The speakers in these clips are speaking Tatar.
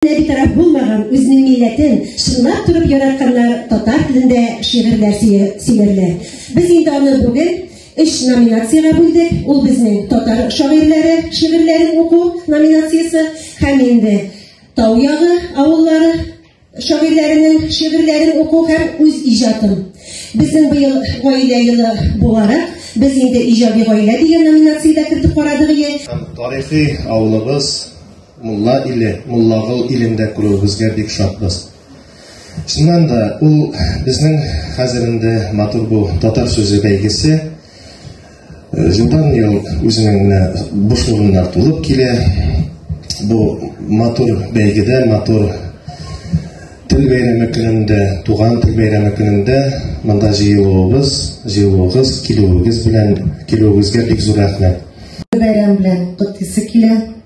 Бөтенләй битараф булмаган үзенең милләтен чынлап торып яратканнар татар телендә шигырьләр сөйләрләр. Без инде аны бүген өч номинациягә бүлдек. Ул безнең татар шагыйрьләре шигырьләрен уку номинациясе һәм инде Тау ягы авыллары шагыйрьләренең шигырьләрен уку һәм үз иҗатын. Безнең быел гаилә елы буларак, без инде иҗади гаилә дигән номинациядә кертеп карадык. Тарихи авылыбыз Мулла иле, Муллагыл илен дә күрүебезгә бик шатбыз. Чыннан да, ул безнең хәзер инде матур бу татар сүзе бәйгесе. Җылдан ел үзенең менә буш урыннар тулып килә. Бу матур бәйгедә, матур тел бәйрәме көнендә, туган тел бәйрәме көнендә монда җыелуыбыз, җыелуыгыз, килүегез белән, килүегезгә бик зур рәхмәт. Бәйрәм белән котлыйсы килә.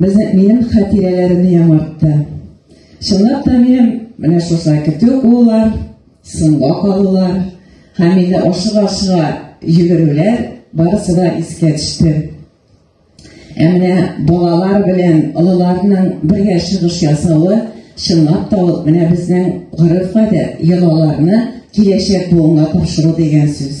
Безнең минем хатирәләремне яңартты. Чынлап та минем менә шулай көтү куллар, сынга калулар, һәм инде ашыга-ашыга йөгерүләр барысы да искә төште. Ә менә балалар белән олыларның бергә чыгыш ясавы чынлап та ул менә безнең гореф-гадәт, йолаларны киләчәк буынга тапшыру дигән сүз.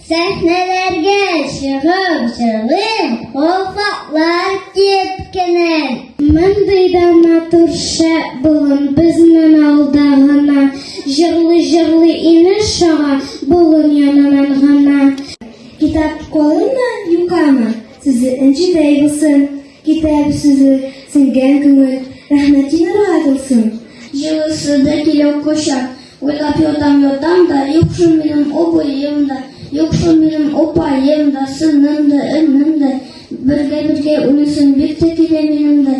Сәхнәләргә чыгып җырлыйм, вафатлар кипкенен. Мондый да матур шәп болын безнен алда гына. Җырлый җырлый ине шага болын янынан гына. Китап колына юкама, сүзе энҗедәй булсын. Китап сүзе сеңгән күңел, рәхмәтин уратылсын. Җылысы да килә кочак. Уйлап ятам, ятам да, юк шул минем обоем да, юк шул минем опаем да, сыным да, өнем да, бергә-бергә үлсен бик тә килә минем дә.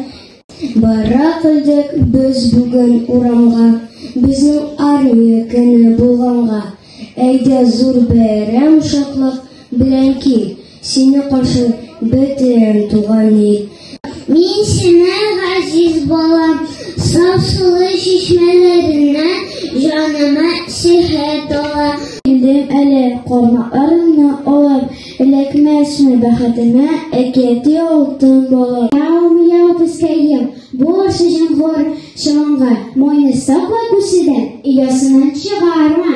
Бара килдек без бүген урамга, безнең армия көне булганга, әйдә зур бәйрәм шатлык белән кил. Сине каршы бөтен туган ил. Мин сине газиз балам, саф сулы чишмәләреннән җаныма сихәт ала. Килдем әле кармакларымны алып, эләкмәсме бәхетемә әкияти алтын балам. Яу, яу, пескәем, бу ашы җәмгор чаланга, мойны сакла күседән, оясыннан чыгарма.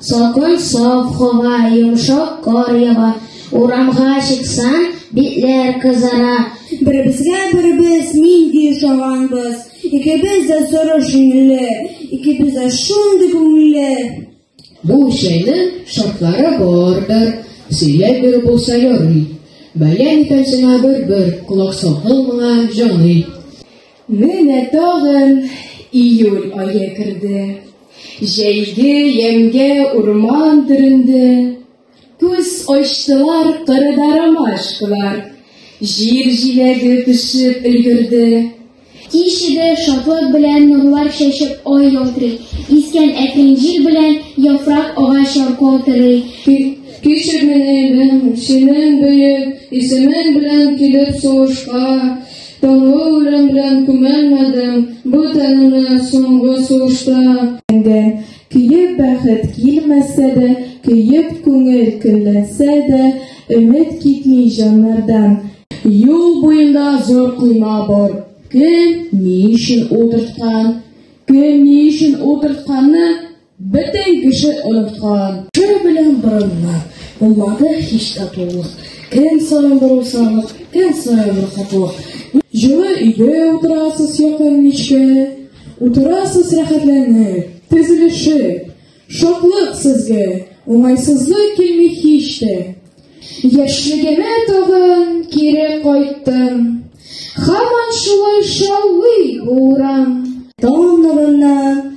Сакын саф хава, йомшак кар ява, урамга чыксаң, битләр кызара. Беребезгә беребез нинди ошаганбыз, икебез дә соры шиңле, икебез дә шундый күңелле. Бу чәйнең шартлары бардыр, сөйләп бер булса ярый. Бәлән итәсеңә бер-бер, колак сакыл моңа җаный. Менә тагын июль ае керде. Җәйге ямьгә урман төренде. Күз ачтылар кырыда ромашкалар. Җир җиләге пешеп өлгерде. Кичеде шатлык белән нурлар чәчеп ай ялтырый. Искән әкрен җил белән яфрак агач яркау тырый. Кичер мине, минем, синең бөек исемең белән килеп сугышка. Таңгы урын белән күмәлмәдем, бу тәнемне соңгы сулышта. Әндә, көеп бәхет килмәсә дә, көеп күңел көнләнсә дә, өмет китми җаннардан. Юл буенда зур койма бар. Кем ни өчен утырткан? Кем ни өчен утыртканны Бөтен кеше оныткан. Кем белән борынлар, булмады һич татулык. Кем саен бер усалык, кем саен бер хатлык. Җылы өйдә утырасыз якын мичкә, утырасыз рәхәтләнеп, тезелешеп. Шатлык сезгә, уңайсызлык килми һич тә. Яшьлегемә тагын кире кайттым, һаман шулай шаулый урам. Таң нурыннан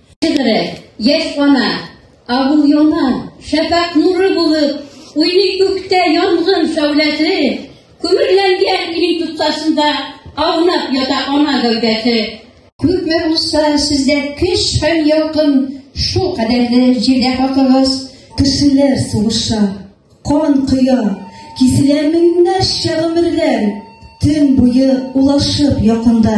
Шигыре, яшь ана, авыл яна, шәфәк нуры булып, уйный күктә янгын шәүләсе, күмерләнгән илең тоткасында аунап ята ана гәүдәсе. Күпме булса сездә көч һәм ялкын, шул кадәрле җирдә хакыгыз. Кешеләр сугыша, кан коя, киселә меңнәрчә гомерләр, төн буе улашып якында.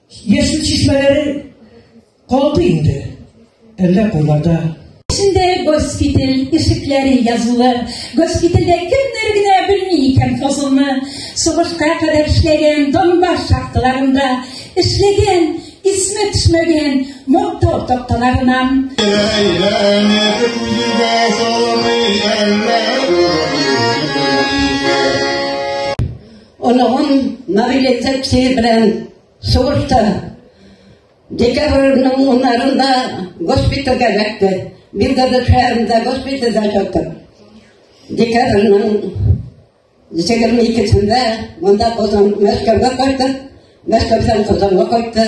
Яшел чишмәләре калды инде. Әллә кулларда. Эчендә госпиталь ишекләре язулы. Госпитальдә кемнәр генә белми икән фазылны. Сугышка кадәр эшләгән Донбасс шахталарында эшләгән исме төшмәгән мактау такталарыннан. Оныгым Наилә Тәпсир белән сугышта декабрьнең уннарында госпитальгә эләкте. Билгеле шәһәрендә госпитальдә ятты. Декабрьнең егерме икесендә монда Казан Мәскәүгә кайтты. Мәскәүдән Казанга кайтты.